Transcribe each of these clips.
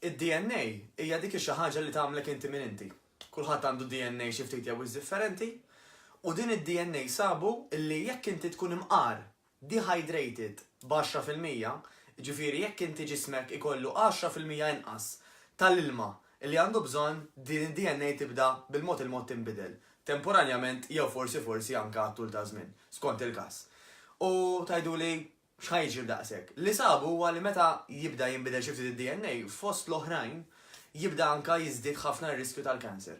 Id-DNA hija dik ix-xi ħaġa li tagħmlek inti min inti. Kulħadd għandu DNA xi ftit jew wisq differenti, u din id-DNA sabu li jekk inti tkun imqar, dehydrated, b'għaxra fil-mija, jiġifieri jekk inti ġismek ikollu għaxra fil-mija inqas tal-ilma li għandu bżonn, din id-DNA tibda bil-mod il-mod tinbidel, temporanjament jew forsi forsi anke għat-tul taż-żmien, skont il-każ. U tgħiduli, X'ħa jiġri b'daqshekk? Li sabu huwa li meta jibda jinbidel xi ftit id-DNA, fost l-oħrajn, jibda anke jiżdied ħafna r-riskju tal-cancer.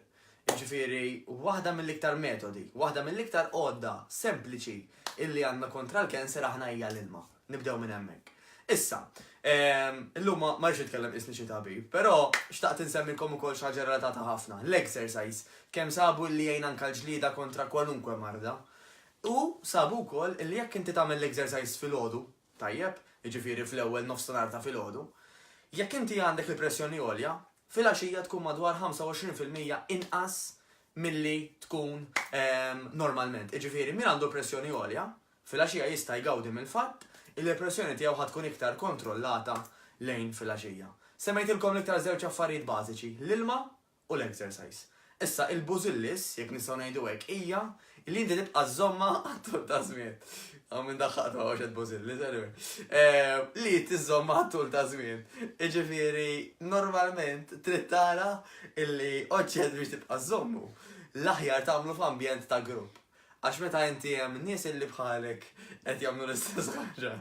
Jiġifieri waħda mill-iktar metodi, waħda mill-iktar għodda sempliċi illi għandna kontra l-cancer aħna hija l-ilma. Nibdew minn hemmhekk. Issa, illum ma rridx nitkellem qisni xi tabib, però xtaqt insemmilkom ukoll xi ħaġa relatata ħafna, l-exercise. Kemm sabu li jgħin anke l-ġlieda kontra kwalunkwe marda. Hu sab ukoll li jekk inti tagħmel l-exercise filgħodu, tajjeb, jiġifieri fl-ewwel nofsinhar ta' filgħodu, jekk inti għandek il-pressjoni għolja, filgħaxija tkun madwar 25 fil-mija inqas milli tkun normalment. Jiġifieri min għandu pressjoni għolja, filgħaxija jista' jgawdi mill-fatt li l-pressjoni tiegħu ħa tkun iktar kontrollata lejn filgħaxija. Semmejtilkom l-iktar żewġ affarijiet bażiċi, l-ilma u l-exercise. Issa, il-bużillis, jekk nistgħu ngħidu hekk, hija li inti tibqa' żżommha għat-tul ta' żmien. Hawn min daħħaqtu hawn xed bużillis, anyway. Eh, li tiżżommha għat-tul ta' żmien. Iġifieri, normalment trid tara illi oġġett biex tibqa' żżommu. L-aħjar tagħmlu f'ambjent ta' grupp. Għax meta inti hemm nies illi bħalek qed jagħmlu l-istess ħaġa.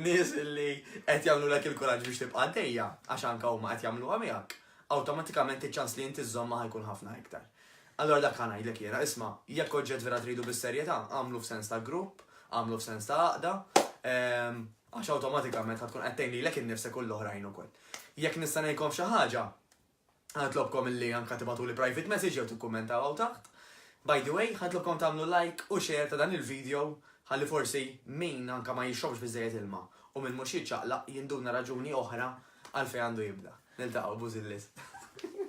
Nies illi qed jagħmlu lek il-kuraġġ biex tibqa' għaddejja, għax anke huma qed jagħmluha miegħek. awtomatikament iċ-ċans li inti żżommha ħa jkun ħafna iktar. Allura dak ħa ngħidlek jiena, isma', jekk oġġett vera tridu bis-serjetà, agħmlu f'sens ta' grupp, agħmlu f'sens ta' għaqda, għax awtomatikament ħa tkun qed tgħin lilek innifsek u l-oħrajn ukoll. Jekk nista' ngħinkom f'xi ħaġa, ħa nitlobkom illi anke tibgħatuli private message jew tikkummentaw hawn taħt. By the way, ħa nitlobkom tagħmlu like u share ta' dan il-video ħalli forsi min anke ma jixrobx biżżejjed ilma u min mhux jiċċaqlaq jinduna raġuni oħra għalfejn għandu jibda. Niltaqgħu, Bużilliet.